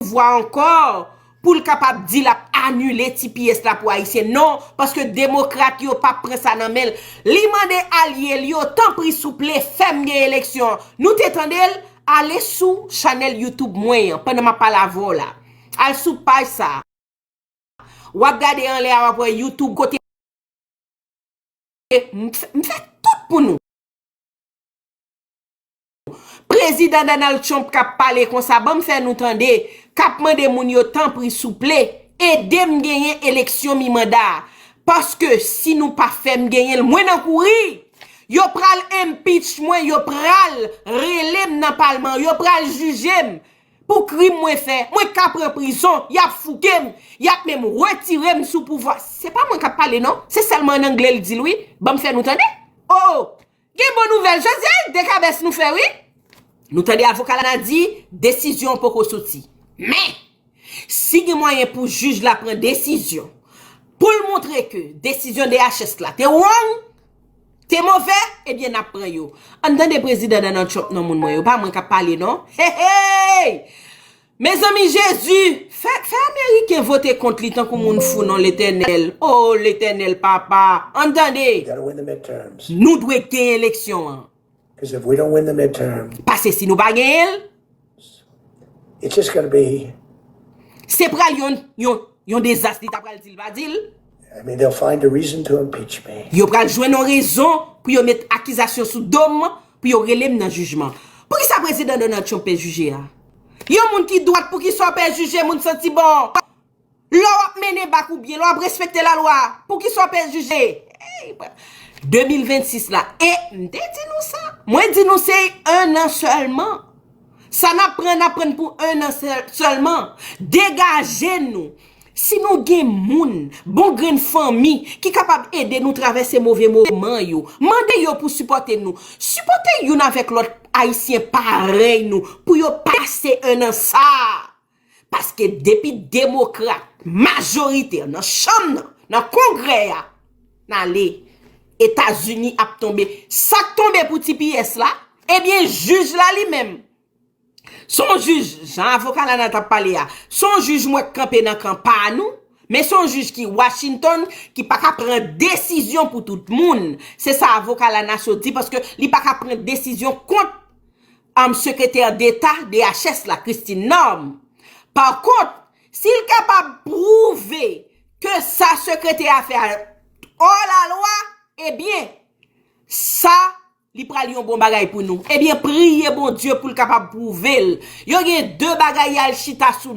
pouvwa ankò pou l kapab di l ap anile tps la pou Ayisyen. Non, paske demokrat yo pap pran sa nan men l. Li mande alye l yo, tanpri souple, fè m gen eleksyon. Nou te tande l? Ale sou chanèl YouTube mwen an, pandan m ap pale avè w la. Al sou paj sa a. W ap gade anlè a, w ap wè YouTube kote m fè tout pou nou. Prezidan Donald Trump kap pale konsa banm fè nou tande kap mande moun yo tanpri souple edem genyen eleksyon mi manda paske si nou pa fèm genyenl mwen nan kouri yo pral impeach mwen yo pral relem nan palman yo pral jijem pou krim mwen fè mwen ka pran prizon yap foukem yap menm retirem sou pouvwa se pa mwen kap pale non se sèlman an anglè l dil wi banm fè nou tande oh Gen bon nouvel jodi a dekabes nou fe wi. Nou tande avoka lana di desizyon an poko soti. Men! Si gen mwayen pou jij la pran desizyon pou l montre ke desizyon DHS la te wrong, te move, ebyen n ap pran yo. Ann tande Prezidan Donald Trump non moun mwen yo. Pa mwen k ap pale non. Heyy! Mezanmi jezi fè fè ameriken vote kont li tankou moun fou non letènèl oo letènèl papa ann tande nou dwe gen eleksyon an pase si nou pa genyenl se pral yon yon yon dezas li ta pral dil pa dil yo pral jwenn yon rezon pou yo met akizasyon sou dom Pou yo rele m nan jijman. Poukisa Prezidan Donald Trump pe jije a? Yon moun ki dwat poukisa w pe jije moun santi bon? Lè w ap mennen bak ou byen, lè w ap respekte lalwa, poukisa w pe jije? 2026 la, e m te di nou sa. Mwen di nou se 1 an sèlman. Sa nap pran nap pran pou 1 an selman. Degaje nou. Si nou gen moun, bon grenn fanmi ki kapab ede nou travèse move moman yo, mande yo pou sipòte nou. Sipòte youn avèk lòt ayisyen parèy nou pou yo pase 1 an sa a Paske depi demokrat majorite nan chanm nan, nan kongrè ya, nale, Etazini ap tonbe. Sak tonbe pou tps la, ebyen jij la li menm. Son jij, jan avoka la nan tap pale ya, son jij mwen k kanpe nan kan pa nou, men son jij ki Washington, ki pa ka pran desizyon pou tout moun. Se sa avoka la nan sot di, paske li pa ka pran desizyon kont. anm sekretè deta DHS la Christine Norme. Pa kont, si l kapab pwouve ke sa sekretè a fè a ò la lwa, ebyen, sa li pral yon bon bagay pou nou. Ebyen, priye Bondye pou l kapab pwouve l. Yo gen 2 bagay y al chita sou.